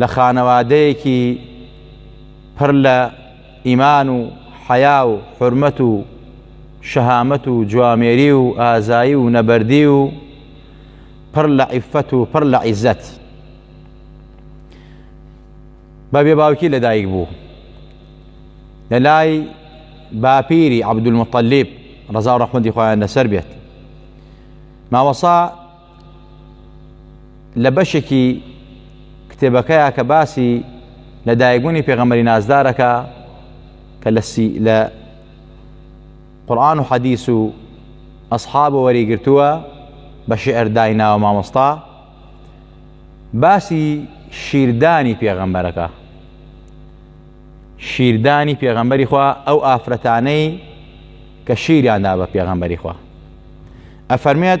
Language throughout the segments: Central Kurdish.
لە خانەوادەیەکی پڕ لە ئیمان و حەیا و حرمەت و شەهامەت و جوامێری و ئازایی و نەبەردی و پڕ لە عیفەت و پڕ لە عیزەت بە بێ باوکی لەدایک بوو لە لای باپیری عبدولمطلب ڕزا و ڕحمەتی خۆیان لەسەر بێت ماوەسا لە بەشێکی کتێبەکەیە کە باسی لە دایکبوونی پێغەمەری نازدارەکە کە لە قورآن و حەدیس و ئەسحاب و وەریگرتووە بە شعر دایناوە مامۆستا باسی شیردانی پێغەمبەرەکە شیردانی پێغەمبەری خوا ئەو ئافرەتانەی کە شیریاندا بە پێغەمبەری خوا ئەفەرمێت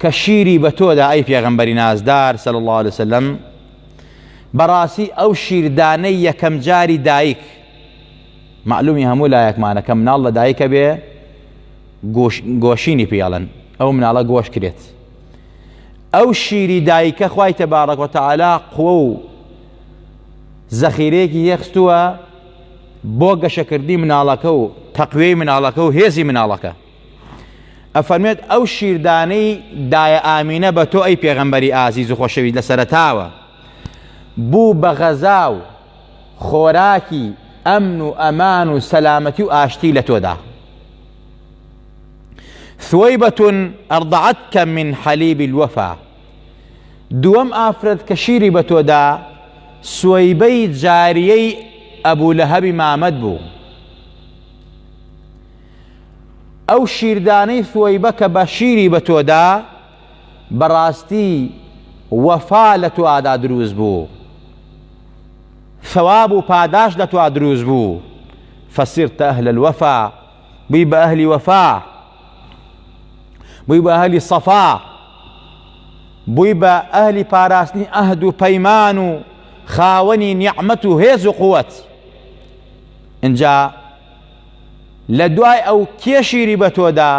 کە شیری بە تۆدا ئەی پێغەمبەری نازدار صلی الله علیه وسلم بەڕاستی ئەو شیردانەی یەکەم جاری دایک معلومی هەموو لایەکمانە کە مناڵ لە دایکە بێ گۆشینی پیاڵن ئەو مناڵە گۆش کرێت ئەو شیری دایکە خی تەبارەک و تەعالا قوە و زەخیرەیەکی یەخستووە بۆ گەشەکردنی مناڵەکە و تەقوێی مناڵەکە و هێزی مناڵەکە ئەفەرمێت ئەو شیردانەی دایە ئامینە بە تۆ ئەی پێغەمبەری ئازیز و خۆشەویست لە سەرتاوە بوو بە غەزا و خۆراکی ئەمن و ئەمان و سەلامەتی و ئاشتی لە تۆدا ثوەیبەتون ئەڕدەعەتکە من حەلیبی الوەفا دووەم ئافرەت کە شیری بە تۆدا سوەیبەی جاریەی ئەبوو لە هەبی مامەت بوو ئەو شیردانەی ثوەیبە کە بە شیری بە تۆدا بەڕاستی وەفا لە توادا دروست بوو ثەواب و پاداش لە توا دروست بوو فەسیرتە ئەهل الوەفا بووی بە ئەهلی وەفا بووی بە ئەهلی سەفا بووی بە ئەهلی پاراستنی ئەهد و پەیمان و خاوەنی نیعممەت و هێز و قووەت اینجا لە دوای ئەو کێ شیری بە تۆدا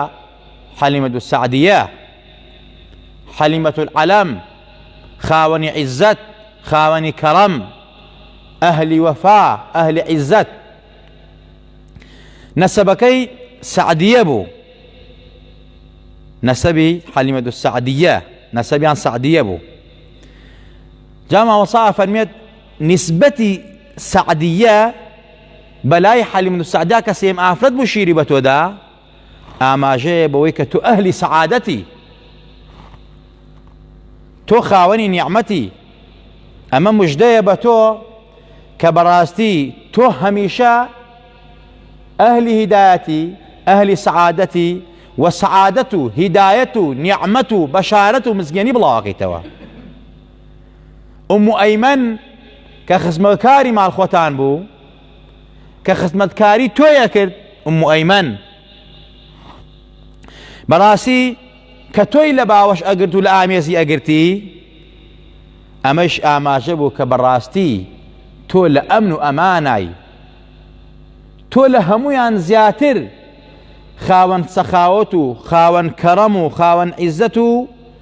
حەلیمەت و سعدیە حەلیمەت العەلەم خاوەنی عیزەت خاوەنی کەڕەم ئەهلی وەفا ئەهلی عیزەت نەسەبەکەی سعدیە بوو نەسەبی حەلیمەت و سعدیە نەسەبیان سعدیە بوو جاماوەسا فەرمێت نسبەتی سعدیە بەلای حەلیم بن سەعدا کە سێم ئافرەت بوو شیری بە تۆدا ئاماژەیە بەوەی کە تۆ ئەهلی سەعادەتی تۆ خاوەنی نیعممەتی ئەمە مژدەیە بە تۆ کە بەڕاستی تۆ هەمیشە ئەهلی هیدایەتی ئەهلی سەعادەتی و سەعادەت و هیدایەت و نیعممەت و بەشارەت و مزگەنی بڵاوەکەیتەوە ئومو ئەیمەن کە خزمەتکاری ماڵخۆتان بوو کە خزمەتکاری تۆیە کرد ئومو ئەیمەن بەڕاستی کە تۆی لە باوەش ئەگرت و لە ئامێزی ئەگرتی ئەمەش ئاماژە بوو کە بەڕاستی تۆ لە ئەمن و ئەمانای تۆ لە هەمویان زیاتر خاوەن سەخاوەت و خاوەن کەڕەم و خاوەن عیزەت و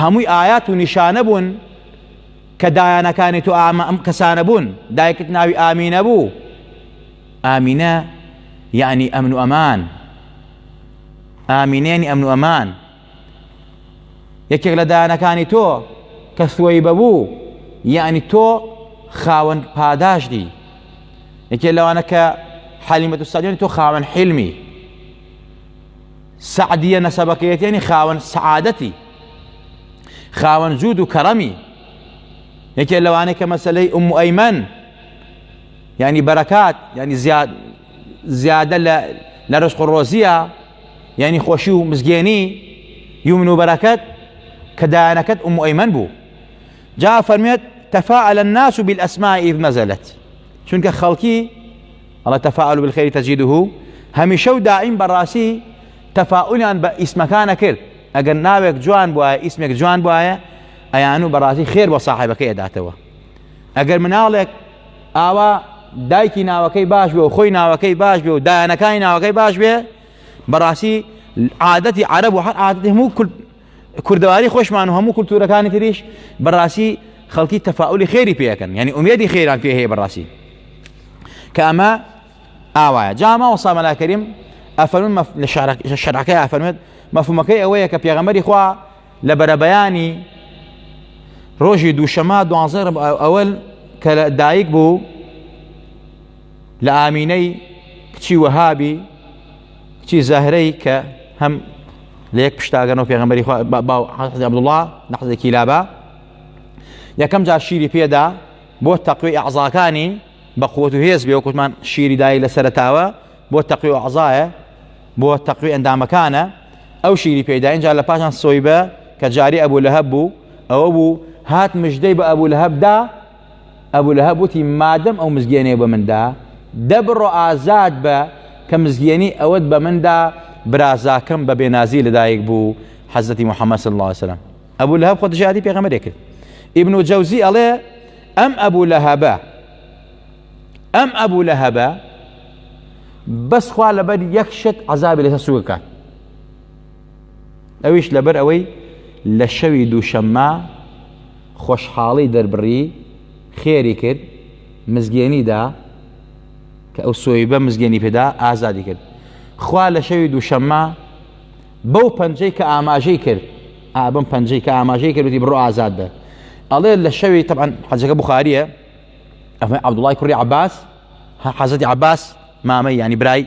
هەمووی ئايات و نیشانە بوون کە دایانەکانی تۆ ئامە ئەم کەسانە بوون دایکت ناوی ئامینە بوو ئامینە یعنی ئەمن و ئەمان ئامینێنی ئەمن و ئەمان یەکێک لە دایانەکانی تۆ کە سوی بەبوو یعنی تۆ خاوەن پاداشتی یەکێ لەوانە کە حەلیمەت و سەدیێن تۆ خاوەن حلمی سەعدیە نەسەبەکەیەتێنی خاوەن سەعادەتی خاوەن جوود و کەڕەمی یەکێ لەوانەیە کە مەسلەی ئوم ئەیمەن ینی بەرەکات ینی زیاد زیادە لە لە ڕسق و ڕۆزیە یعنی خۆشی و مزگێنی یومن و بەرەکەت کە دایانەکەت ئوم ئەیمەن بوو جا فەرمێت تەفاعل الناس بالاسماء اذ نزلت چونکە خەڵکی ئەڵێ تەفاعل بالخێری تەجیدوه هەمیشە و دائیم بەڕاستی تەفاعلیان بە ئیسمەکانە کرد ئەگەر ناوێک جوان بواە ئیسمێک جوان بواە ئەیان و بەڕاستی خێر بۆ ساحبەکە ئەداتەوە ئەگەر مناڵێک ئاوا دایکی ناوەکەی باش بێ و خۆی ناوەکەی باش بێ و دایانەکانی ناوەکەی باش بێ بەڕاستی عادەتی عرب و هەر عادەتی هەموو کورد کوردەواری خۆشمان و هەموو کولتوورەکانی تریش بەڕاستی خەڵکی تەفاعلی خێری پێەکەن یعنی ئومێدی خێران پێ هەیە بەڕاستی کە ئەمە ئاوایە جاما و سامەلاکەریم ئەفەرمن لە شەرعەکەی ئەفەرمێت مەفهومەکەی ئەوەیە کە پێغەمەری خوا لە بەرەبەیانی ڕۆژی دووشەما دوانزە ئەوەل کە لە دایک بوو لە ئامینەی کچی وەهابی کچی زەهرەی کە هەم لە یەک پشتاگەنەوە پێغەمەری عبدوڵا نەحزێکی لابا یەکەم جار شیری پێدا بۆ تەقوی ئەعزاکانی بە قوت و هێز بێ وکوتمان شیری دای لە سەرتاوە بۆ تەقی و عزایە بۆ تەقوی ئەندامەکانە ئەو شیری پێدا اینجا لە پاشان سۆی بە کە جاری ئەبوو لە هەب بوو ئەوە بوو هات مژدەی بە ئەبوو لە هەبدا ئەبو لەهەب وتی مادەم ئەو مزگێنێ بە مندا دەبڕۆ ئازاد بە کە مزگێنی ئەوەت بە مندا برازاکەم بە بێنازی لەدایک بوو حەزەتی محەممەد صلی الله وسلم ئەبوو لە هەب خۆ دژادی پێغەمەرێ کرد ئیبن و جەوزی ئەڵێ ئەم ئەبوو لە هەبە ئەم ئەبوو لە هەبە بەسخوا لەبەر یەک شت عذابی لەسە سوگەکات ئەویش لەبەر ئەوەی لە شەوی دووشەممە خۆشحاڵی دەربڕی خێری کرد مزگێنیدا کە ئەو سۆیبە مزگێنی پێدا ئازادی کرد خوا لە شەوی دووشەممە بەو پەنجەی کە ئاماژەی کرد ئابم پەنجەی کە ئاماژەی کردی بڕۆ ئازاد بە ئەڵێ لە شەوی تەعاان حەجەکە بخاریە ئەمە عبدوڵای کوڕی عباس حەزەتی عباس مامە ینی برای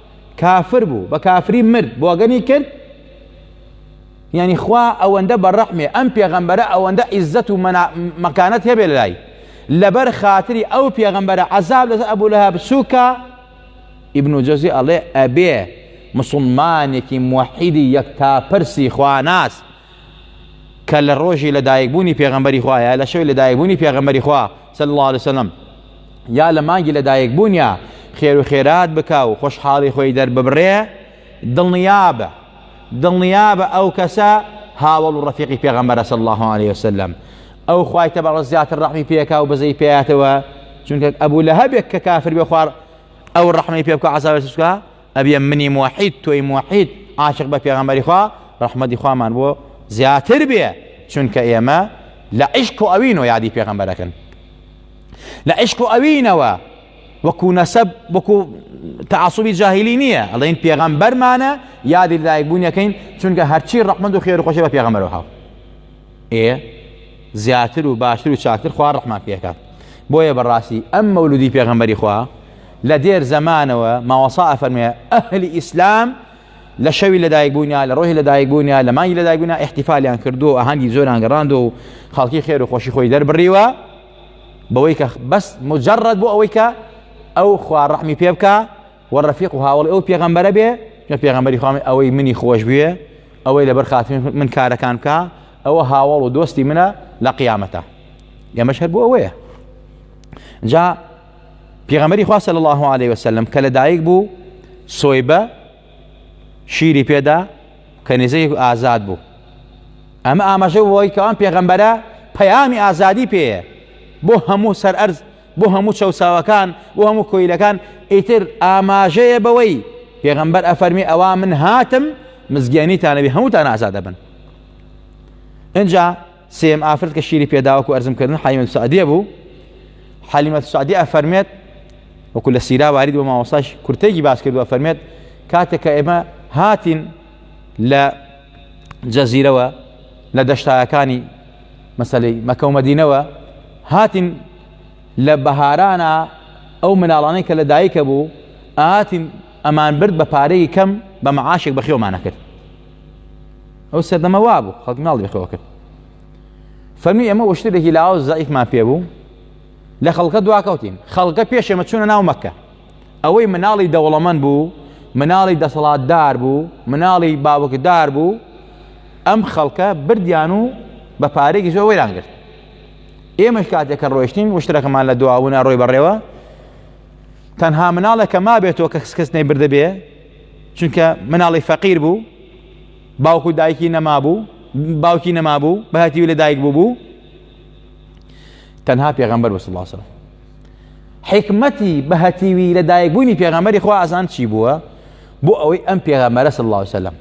کافر بوو بە کافری مرد بۆگەنی کرد یعنی خوا ئەوەندە بە ڕەحمێ ئەم پێغەمبەرە ئەوەندە عیزەت و مەکانەت هەبێ لای لەبەر خاتری ئەو پێغەمبەرە عذاب لەسەر ئەبوو لە هەبسووکە ئیبن و جەزی ئەڵێ ئەبێ مسلمانێکی موحیدی یەکتا پرسی خواناس کە لە ڕۆژی لەدایکبوونی پێغەمبەری خوا یا لە شەوی لەدایکبوونی پێغەمبەری خوا صلی الله علیه وسلم یا لە مانگی لەدایکبوونیا خێر و خێرات بکە و خۆشحاڵی خۆی دەرببڕێ دڵنیابە دڵنیابە ئەو کەسە هاوڵ و ڕفیقی پێغەمبەرە صلی الله عليه وسلم ئەو خوای تەبەڕە زیاتر ڕەحمی پێکا و بەزەی پێاتەوە چونکە ئەبوو لە هەبێک کە کافر بێ خوار ئەو ڕەحمی پێ بکە عزاوێ سوسکە ئەبێ منی موحید تۆی موحید عاشق بە پێغەمبەری خوا ڕەحمەتی خوامان بۆ زیاتر بێ چونکە ئێمە لە عیشق و ئەوین و یادی پێغەمبەرەکەن لە عیشق و ئەوینەوە وەکو نەسەب وەکو تعصبی جاهلی نییە ئەڵین پێغەمبەرمانە یادی لایک بوونیەکەین چونکە هەرچی ڕەحمەند و خێر خۆشی بە پێغەمبەرەوە هاو ئێ زیاتر و باشتر و چاکتر خوا ڕحمان پێکات بۆیە بەڕاستی ئەم مەولودی پێغەمبەری خوا لە دێر زەمانەوە ماوەسا ئەفەرموێ ئەهلی ئیسلام لە شەوی لەدایک بوونیا لە ڕۆژی لەدایک بوونیا لە مانگی لەدایک بوونا احتیفالیان کردو ئاهەنگی زۆران گەڕاندو و خەڵکی خێر و خۆشی خۆی دەربڕیوە بەوەی کە بەس مجرڕەت بۆ ئەوەی کە ئەو خوار ڕحمی پێ بکە و ڕفیق و هاوڵی ئەو پێغەمبەرە بێ لە پێغەمبەری خوامی ئەوەی منی خۆش بوێ ئەوەی لەبەر خاتم من کارەکان بکە ئەوە هاوڵ و دۆستی منە لە قیامەتە ئێمەش هەر بۆ ئەوەیە جا پێغەمبەری خوا صلی الله علیه و سلم کە لەدایک بوو سۆیبە شیری پێدا کەنیزەیەک ئازاد بوو ئەمە ئاماژە بۆی کەوان پێغەمبەرە پەیامی ئازادی پێیە بۆ هەموو سەر ئەرز بۆ هەموو چەساوەکان بۆ هەموو کۆیلەکان ئیتر ئاماژەیە بەوەی پێغەمبەر ئەفەرمی ئەوا من هاتم مزگیانی تانەوی هەمووتان ئازادە بن اینجا سێم ئافرەت کە شیری پێداوەک و ئەرزم کردن حەلیمەت سعدیە بوو حەلیمەت سعدی ئەفەرمێت وەکو لە سیرا وارد بۆ مامۆستاش کورتێکی باس کرد و ئەفەرمێت کاتێک کە ئێمە هاتین لە جەزیرەوە لە دەشتایەکانی مەسلەی مەکە و مەدینەوە هاتین لە بەهارانە ئەو مناڵانەی کە لە دایکە بوو ئاتین ئەمان برد بە پارەی کەم بە معاشێک بەخێومانە کرد ئەو سەردەمە وا بوو خەڵک ماڵی بەخەوە کرد فەرمی ئەمە وشتێکی لاوە زەعیفمان پێ بوو لە خەڵکە دواکەوتین خەڵکە پێش ئێمە چوونە ناو مەکە ئەوەی مناڵی دەوڵەمەند بوو مناڵی دەسەڵاتدار بوو مناڵی باوکدار بوو ئەم خەڵکە بردیان و بە پارێکی زۆر وەیان گرت ئێمەش کاتێک کە ڕۆشتین وشترەکەمان لە دواونە ڕۆی بەڕێوە تەنها مناڵێک کە ما بێتەوە کە کەس نەی بردەبێ چونکە مناڵی فەقیر بوو باوک و دایکی نەمابوو باوکی نەمابوو بەهاتیوی لە دایک بوو بوو تەنها پێغەمبەر بەس الله سلام حکمەتی بەهەتیوی لە دایکبوونی پێغەمەری خوا ئازان چی بووە بۆ ئەوەی ئەم پێغەمەرە سڵ الله وسلم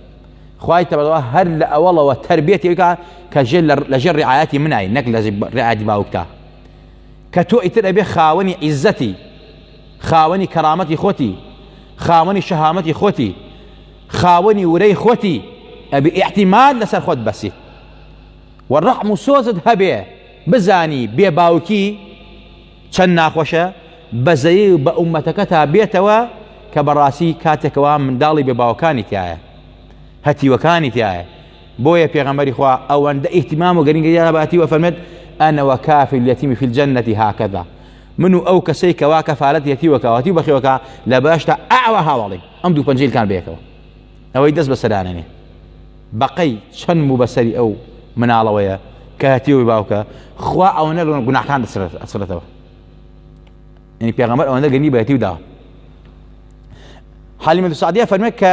خی تەبەوە هەر لە ئەوڵەوە تربێت یکە کە ژێ لە ژێر ڕعاەتی منای نەک لە ڕعادی باوکتا کە تۆ ئیتر ئەبێ خاوەنی عیزەتی خاوەنی کەرامەتی خۆتی خاوەنی شەهامەتی خۆتی خاوەنی ورەی خۆتی ئەبی ئیحتیمال لەسەر خۆت بەسی و ڕەحم و سۆزت هەبێ بزانی بێ باوکی چەند ناخۆشە بەزەی و بە ئومەتەکە تا بێتەوە کە بەڕاستی کاتێکەوە منداڵی بێ باوکانی تایە هەتیوەکانی تایە بۆیە پێغەمەری خوا ئەوەندە ئیهتمام و گەرنگی داباتی وە فەرمێت ئەنەوە کافی لەتیمی فیل جەنەتی هاکەدا من و ئەو کەسەی کەوا کەفالەت یەتی وەکاوەتی و بەخێوەکە لە بەهەشتا ئاوا هاواڵین ئەم دوو پەنجەی کان بەیەکەوە ئەوەی دەست بەسەرانێنێ بەقەی چەند موو بەسەری ئەو مناڵەوەیە کە هەتیەوەی باوکە خوا ئەوە نەگەن گوناحان دەسرەتەوە یعنی پێغەمبەر ئەوەندە گەنی بەهەتی و داوە حالیمە سعدیە فەرمێک کە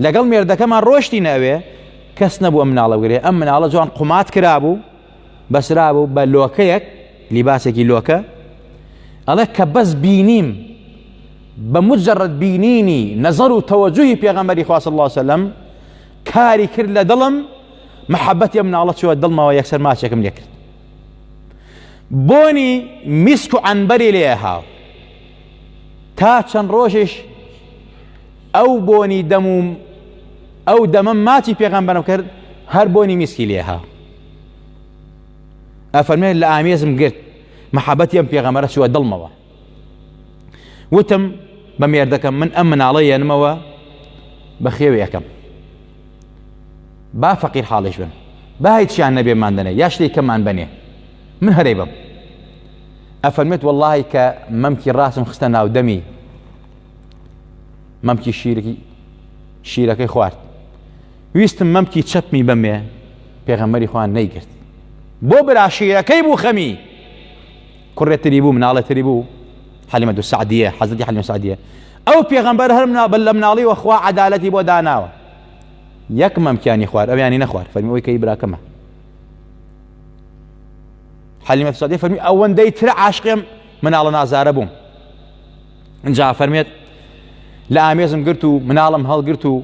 لەگەڵ مێردەکەمان ڕۆشتی ناوێ کەس نەبووە مناڵە گرێ ئەم مناڵە جوان قومات کرابوو بەسرابوو بە لۆکەیەک لیباسێکی لۆکە ئەڵێ کە بەس بینیم بە مجرد بینینی نەزەر و تەوەجوهی پێغەمەری خواست الله سلم کاری کرد لە دڵم محەبەتی ئەم ناڵە چوە دڵمەوە یەکسەر ماچێکم لێکرد بۆنی میسک و ئەنبەری لێ هاو تا چەند ڕۆژێش ئەو بۆنی دەموم ئەو دەمە ماچی پێغەمبەرم کرد هەر بۆنی میسکی لێ هاو ئەفەرمێت لە ئامێزم گرت محەبەتی ئەم پێغەمەرە چوە دڵمەوە وتم بە مێردەکەم من ئەم مناڵە یەنمەوە بە خێوێ یەکەم با فەقیر حاڵش بن با هیچیان نەبێ مادەنێ یا شتێک کەمان بنێ من هەرەی بم ئەفەرمێت واللهی کە مەمکی ڕاستم خستە ناودەمی مەمکی شیرکی شیرەکەی خوارد ویستم مەمکی چەپمی بەمێ پێغەمبەری خوا نەیگرت بۆ براشیرەکەی بوو خەمی کوڕێتری بوو مناڵێتری بوو حەلیمە دو سعدیە حەزەتی حەلیمە سعدیە ئەو پێغەمبەر هەر منابل لە مناڵی وەخوا عدالەتی بۆ داناوە یەک مەمکیانی خوار ئەویانی نەخوار فەرمی ئەوی کەی براکەمە حەلیمە سعدیە فەرمی ئەوەندەی ترە عاشقێم مناڵە نازارە بووم ئینجا فەرمێت لە ئامێزم گرت و مناڵم هەڵگرت و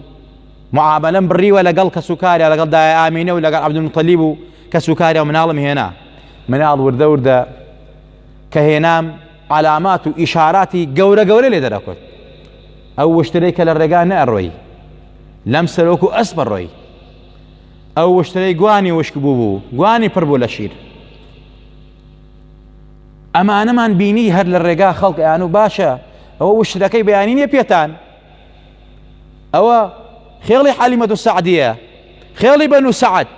معاملەم بڕیوە لەگەڵ کەس و کارە لەگەڵ دای ئامینە و لەگەڵ عبدمتەلی بوو کەس و کارە و مناڵم هێنا مناڵ وردە وردە کە هێنام علامات و ئیشاراتی گەورە گەورە لێ دەرەکوت ئەو وشترەی کە لە ڕێگا نەڕۆی لەم سەرۆک و ئەس بەڕۆی ئەو وشترەی گوانی وشک بوو بوو گوانی پڕ بوو لە شیر ئەمانەمان بینی هەر لە ڕێگا خەڵکیان و باشە ئەوە وشترەکەی بەیانی نیە پێتان ئەوە خێڵی حەلیمەت و سعدیە خێڵی بەن و سعد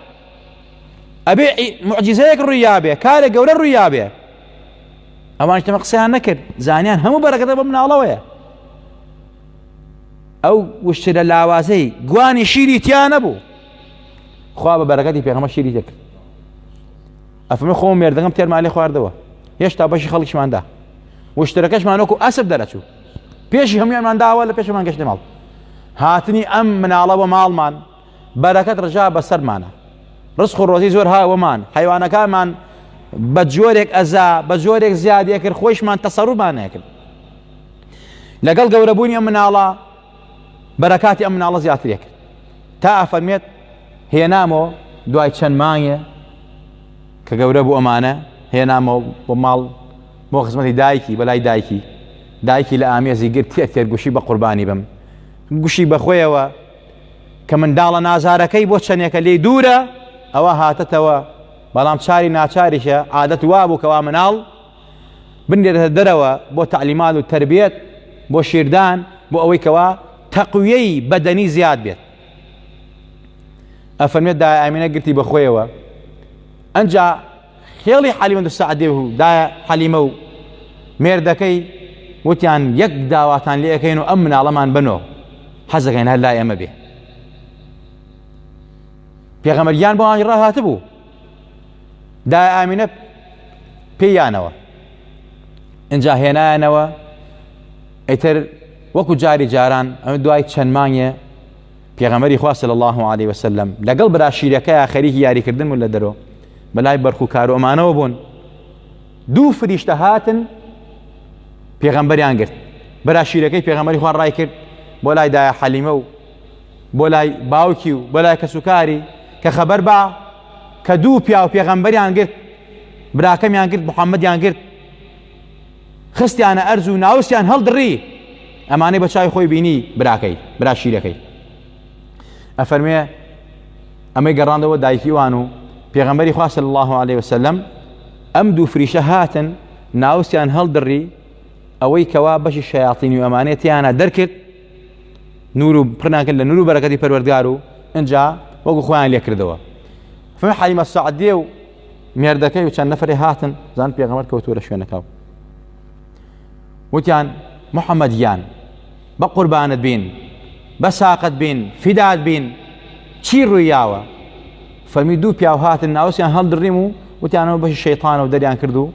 ئەبێ معجززەیەک ڕوویابێ کارە گەورە ڕوویابێ ئەوان تەمە قسەیان نەکرد زانیان هەموو بەرەکەتە بە مناڵەوەیە ئەو وشتە لە لاوازەی گوانی شیری تیا نەبوو خوا بە بەرەکەتی پێغەمە شیری دەکرد ئەفەرموێ خۆم مێردەکەم تێرمان لێ خواردەوە هێشتا بەشی خەڵکیشماندا وشتەرەکەشمان وەکو ئەسب دەرەچوو پێشی هەمویانمان داوە لە پێشمان گەشتە ماڵ هاتنی ئەم مناڵەوە ماڵمان بەرەکەت ڕژا بەسەرمانە ڕسخ و ڕۆزی زۆر هاوەمان حیوانەکانمان بە جۆرێک ئەزا بە جۆرێک زیادێکرد خۆشمان تەسەڕوبانەکرد لەگەڵ گەورەبوونی ئەم مناڵە بەرەکاتی ئەم مناڵە زیاترێ کرد تا ئەفەرمێت هێنامەوە دوای چەند مانگێ کە گەورە بوو ئەمانە هێنامەوە بۆ ماڵ بۆ خزمەتی دایکی بەلای دایکی دایکی لە ئامێزی گر تێ تێرگوشی بە قوربانی بم گوشی بەخۆیەوە کە منداڵە نازارەکەی بۆ چەندێکە لێ دوورە ئەوە هاتەتەوە بەڵام چاری ناچاریشە عادەت وابوو کەوا مناڵ بنرێتە دەرەوە بۆ تەعلیمات و تەربیەت بۆ شیردان بۆ ئەوەی کەوا تەقویەی بەدەنی زیاد بێت ئەفەرمێت دایە ئامینە گرتی بەخۆیەوە ئەجا خێڵی حەلیمە دو سعدێ و دایە حەلیمە و مێردەکەی وتیان یەک داواتان لێ ئەەکەین و ئەم مناڵەمان بنۆ حەزەکەین هەر لای ئەمە بێ پێغەمەریان بۆ ئاهی ڕاهاتە بوو دایە ئامینە پێیانەوە ئەجا هێنایەنەوە ئەیتر وەکو جاری جاران ئەمە دوای چەند مانگێ پێغەمەری خواست لە الله عليه وسلم لەگەڵ براشیرەکە خەریکی یاریکردن و لە دەرۆ بەلای بەرخو کارۆمانەوە بوون دوو فریشتە هاتن پێغەمبەریان گرت براشیرەکەی پێغەمەری خوا ڕای کرد بۆ لای دایە حەلیمە و بۆ لای باوکی و بۆ لای کەسوکاری کە خەبەر با کە دوو پیاو پێغەمبەریان گرت براکەمیان گرت محەممەدیان گرت خستیانە ئەرز و ناوسیان هەڵدڕی ئەمانەی بە چای خۆی بینی براکەی برا شیرەکەی ئەفەرمێ ئەمەی گەڕاندەوە دایکی وان و پێغەمبەری خواست الله عليه وسلم ئەم دوو فریشە هاتن ناوسیان هەڵدڕی ئەوەی کەوا بەشی شیاطینی و ئەمانێتیانە دەرکرد نور و پڕنان کرد لە نور و بەرەکەتی پەروەردگار و ئەجا وەکو خۆیان لێکردەوە فە حەلیمە سعدێ و مێردەکەی و چەند نەفرێ هاتن زان پێغەمەر کەوتوە لە شوێنەکە وتیان محەممەد یان بە قوربانت بین بە ساقت بین فیداد بین چی ڕوویاوە فەرمی دوو پیاو هاتن ناوسیان هەڵدڕیم و وتیانەوە بەشی شەیتانەوە دەریان کرد و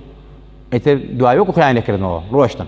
ئەیتر دوایۆک خۆیان لەکردنەوە ڕۆشتن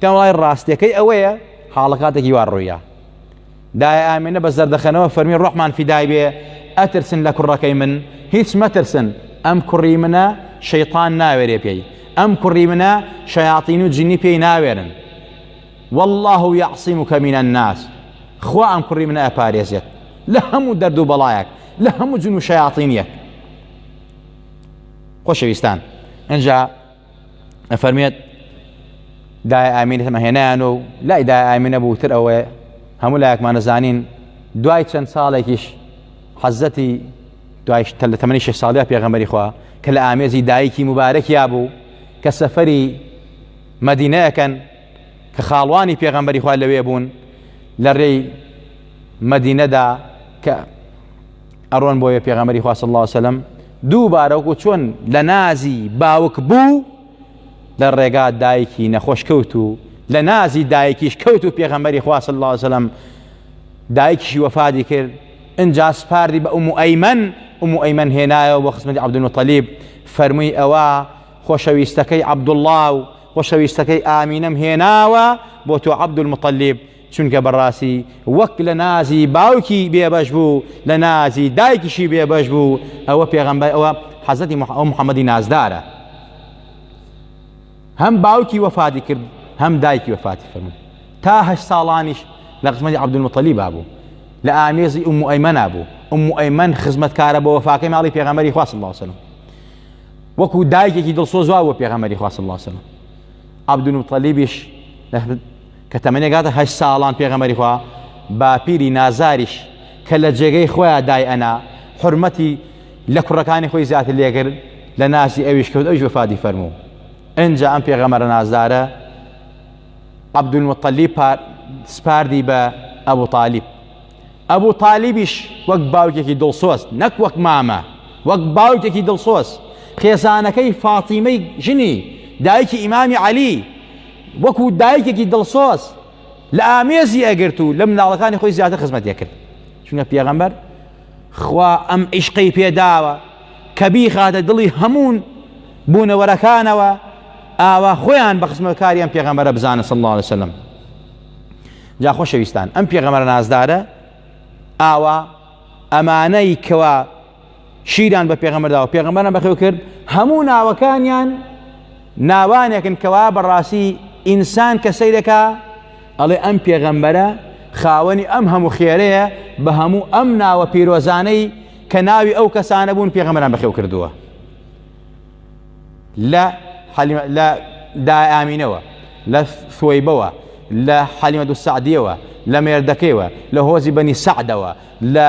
پێم وڵی ڕاستیەکەی ئەوەیە حاڵەکاتێکی وا ڕوویا دای ئامێنە بە زەردەخەنەوە فەرمی ڕۆحمان فیدای بێ ئەترسن لە کوڕەکەی من هیچ مەترسن ئەم کوڕی منە شەیطان ناوێرێ پێی ئەم کوڕی منە شەیاطین و جنی پێی ناوێرن والله یعصیم و کەمینە الناس خوا ئەم کوڕی منە ئەپارێزێت لە هەموو دەرد و بەڵایەک لە هەموو جن و شەیاطینیەک خۆشەویستان ئەجا ئەفەرمێت دای ئامین هەمەهێنایان و لای دای ئامینە بووتر ئەوەیە هەموو لایەکمان دەزانین دوای چەند ساڵێکیش حەزەتی دوایش لە تەمەنی شش ساڵیا پێغەمەری خوا کە لە ئامێزی دایکی مبارەکیا بوو کە سەفەری مەدینەکەن کە خاڵوانی پێغەمبەری خوا لەوێ بوون لە ڕێی مەدینەدا کە ئەڕۆن بۆیە پێغەمەری خوا صلی الله وسلم دووبارە وەکو چۆن لە نازی باوک بوو لە ڕێگا دایکی نەخۆش کەوت و لە نازی دایکیش کەوت و پێغەمەری خوا صلی الله وسلم دایکیشی وەفادی کرد انجا سپاردی بە ئومو ئەیمەن ئومو ئەیمەن هێنایەوە بۆ خزمەتی عەبدولمطەلیب فەرمووی ئەوە خۆشەویستەکەی عەبدوڵڵا و خۆشەویستەکەی ئامینەم هێناوە بۆ تۆ عەبدولمطەلیب چونکە بەڕاستی وەک لە نازی باوکی بێبەش بوو لە نازی دایکیشی بێبەش بوو ئەوە پێغەمبەر ئەوە حەزەتی محەممەدی نازدارە هەم باوکی وەفاتی کرد هەم دایکی وەفاتی فەرموو تاهش ساڵانیش لە قسمەتی عبدمەتەلی بابوو لە ئامێزی ئوم ئەیمەنا بوو ئوم ئەیمەن خزمەتکارە بۆ وەفاکەی ماڵی پێغەمەری خواست باسن وەکو دایکێکی دڵسۆزوا بۆ پێغەمەری خواست باسن عبدمەتەلیبیش کە تەمەنی گاتە هەشت ساڵان پێغەمبەری خوا باپیری نازاریش کە لە جێگەی خۆیان دای ئەنا حرمەتی لە کوڕەکانی خۆی زیاتر لێگر لە نازی ئەویش کەوت ئەویش وفادی فەرموو ئەجا ئەم پێغەمەرە نازدارە عبدالمطلی سپاردی بە ئەبوو تاالب ئەبوو تاالبیش وەک باوکێکی دڵسۆست نەک وەک مامە وەک باوکێکی دڵسۆست خێزانەکەی فاتیمەی ژنی دایکی ئیمامی علی وەکو دایکێکی دڵسۆز لە ئامێزی ئەگرت و لە مناڵەکانی خۆی زیاتر خزمەتی ئەکرد چونکە پێغەمبەر خوا ئەم عیشقەی پێداوە کە بیخاتە دڵی هەموون بوونەوەرەکانەوە ئاوا خۆیان بە خزمەکاریان پێغەمبەرە بزانە صلی الله عليه وسلم جا خۆشەویستان ئەم پێغەمبەر نازدارە ئاوا ئەمانەی کەوا شیران بە پێغەمەرداوە پێغەمەرە بەخێو کرد هەموو ناوەکانیان ناوانێکن کەوا بەڕاستی ئینسان کە سەیرەکە ئەڵێ ئەم پێغەمبەرە خاوەنی ئەم هەموو خێرەیە بە هەموو ئەم ناوە پیرۆزانەی کە ناوی ئەو کەسانە بوون پێغەمەران بەخێو کردووە لە لە دایامینەوە لە سوەیبەوە لە حەلیمە دو سعدیەوە لە مێردەکەیەوە لە هۆزی بەنی سعدەوە لە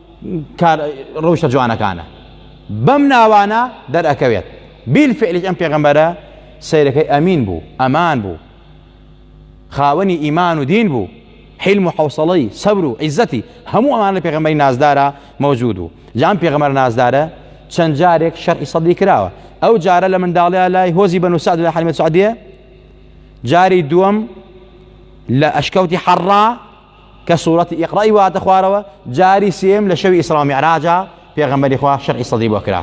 کار ڕەوشە جوانەکانە بەم ناوانە دەرەکەوێت بیل فعلیش ئەم پێغەمبەرە سیرەکەی ئەمین بوو ئەمان بوو خاوەنی ئیمان و دین بوو حلم و حوصڵەی سەبر و عیزەتی هەموو ئەمان لە پێغەمبەری نازدارە مەوجود و جام پێغەمەر نازدارە چەند جارێک شەرعی سەدی کراوە ئەو جارە لە منداڵیا لای هۆزی بەن و سعد لە حلمە سعدیە جاری دووەم لە ئەشکەوتی حەڕا کە سورەتی ئیقڕەی واتە خوارەوە جاری سێیەم لە شەوی ئیسراو میعراجا پێغەمبەری خوا شەرعی سەدری بۆ کرا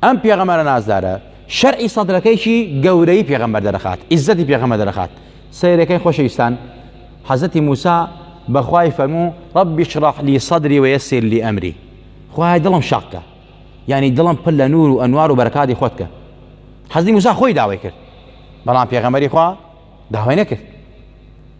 ئەم پێغەمەرە نازدارە شەرعی سەدرەکەیکی گەورەی پێغەمبەر دەرەخات ئیزەتی پێغەمە دەرەخات سیرەکەی خۆشەویستان حەزەتی موسا بەخوای فەرموو ڕبی شڕح لی سەدری وە یەسیر لی ئەمری خوای دڵم شەقکە یعنی دڵم پل لە نور و ئەنوار و بەرکاتی خۆتکە حەزی موسا خۆی داوای کرد بەڵام پێغەمەری خوا داوای نەکرد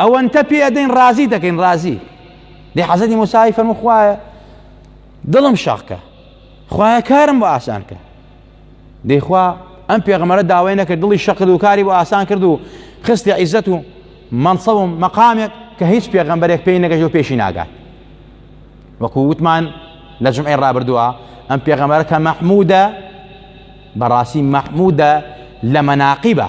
ئەوەنتە پێ ئەدەین ڕازی دەکەین ڕازی دێ حەزەتی موساوی فەرمو خوایە دڵم شەقکە خوایە کارم بۆ ئاسان کە دەیخوا ئەم پێغمەرە داوای نەکرد دڵی شەقد و کاری بۆ ئاسان کرد و خستی عیزەت و مەنسەوم مەقامێک کە هیچ پێغمبەرێک پێی نەگەژ و پێشی ناگات وەکو وتمان لە جمعی ڕابردووە ئەم پێغەمەرە کە مەحمودە بەڕاستی مەحمودە لە مەناقیبە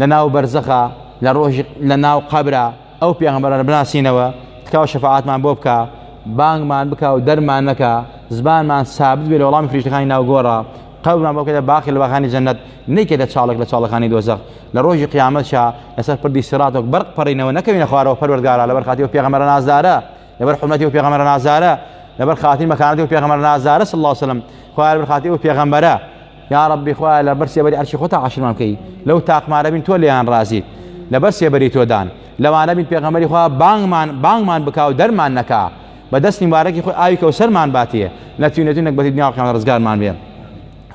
لە ناو بەرزەخە لە ڕۆژی لە ناو قەبرە ئەو پێغەمبەرانە بناسینەوە تکاو شەفاعەتمان بۆ بکە بانگمان بکە و دەرمان نەکە زبانمان سابت بێ لە وەڵامی فریشتەکانی ناو گۆڕە قەبرمان بۆ کەدە باقی لە باخانی جەنەت نەیکەدە چاڵک لە چاڵەکانی دۆزەخ لە ڕۆژی قیامەت شا لەسەر پردی سرات و بەرق پەڕینەوە نەکەوینە خوارەوە پەروەردگارا لەبەر خاتی و پێغەمبەر نازدارە لەبەر حرمەتی و پێغەمبەر نازارە لەبەر خاتی مەکانەتی و پێغەمبەر نازارە صلی الله وسلم خوار بەر خاتی و پێغەمبەرە یا ربی خوایە لەبەر سێبەری عەرشی خۆتا عەشرمان بکەی لەو تاقمانە بین تۆ لێیان رازیت لەبەر سێبەری تۆدان لەوانە بین پێغەمبەری خوا بانگمان بانگمان بکا و دەرمان نەکا بە دەستی مبارەکی خۆی ئاوی کەوسەرمان باتێ نەتوینێت و نەگبەتی دنیا قیامەت ڕزگارمان بێ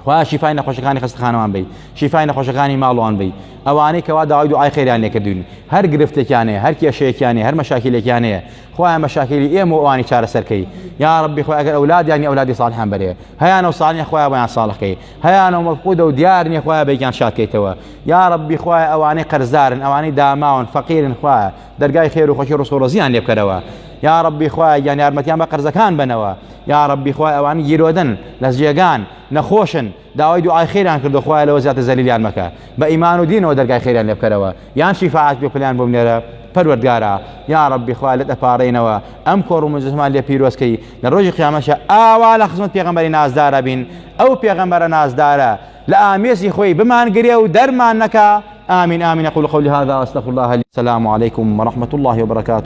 خوا شیفای نەخۆشەکانی خەستەخانەوان بی شیفای نەخۆشەکانی ماڵوان بی ئەوانەی کەوا داوای دوعای خێریان لێکردوین هەر گرفتێکیانەیە هەر کێشەیەکیانەیە هەر مەشاکیلێکیانەیە خوایە مەشاکیلی ئێمە و ئەوانی چارەسەرکەی یا ڕبی خۆی ئەگەر ئەولادیان یا ئەولادی ساڵحان بەرێ هەیان و ساڵنیە خۆیان بۆیان ساڵەکەی هەیان و مەفقودە و دیار نیە خۆیان بێکیان شادکەیتەوە یا ڕبی خوای ئەوانەی قەرزارن ئەوانەی داماون فەقیرن خوایە دەرگای خێر و خۆشی ڕسق و ڕزیان لێ بکەرەوە یا ڕبی خوای گیان یارمەتیان بە قەرزەکان بنەوە یا ڕبی خوای ئەوان گیرۆدن لە جێگان نەخۆشن داوای دوعای خێریان کردو خوایە لەوە زیاتر زەلیلیان مەکە بە ئیمان و دینەوە دەرگای خێریان لێ بکەرەوە یان شیفاعەت پێ پلیان بۆ بنێرە پەروەردگارا یاڕەبی خوایە لێت ئەپاڕێینەوە ئەم کۆڕو مجلسمان لێ پیرۆز کەی لە ڕۆژی قیامەشە ئاوا لە خزمەت پێغەمبەری نازدارا بین ئەو پێغەمبەرە نازدارە لە ئامێزی خۆی بمان گرێ و دەرمان نەکا آمین آمین أقول قولي هذا وأستغفر الله لي السلام عليكم ورحمة الله وبركاته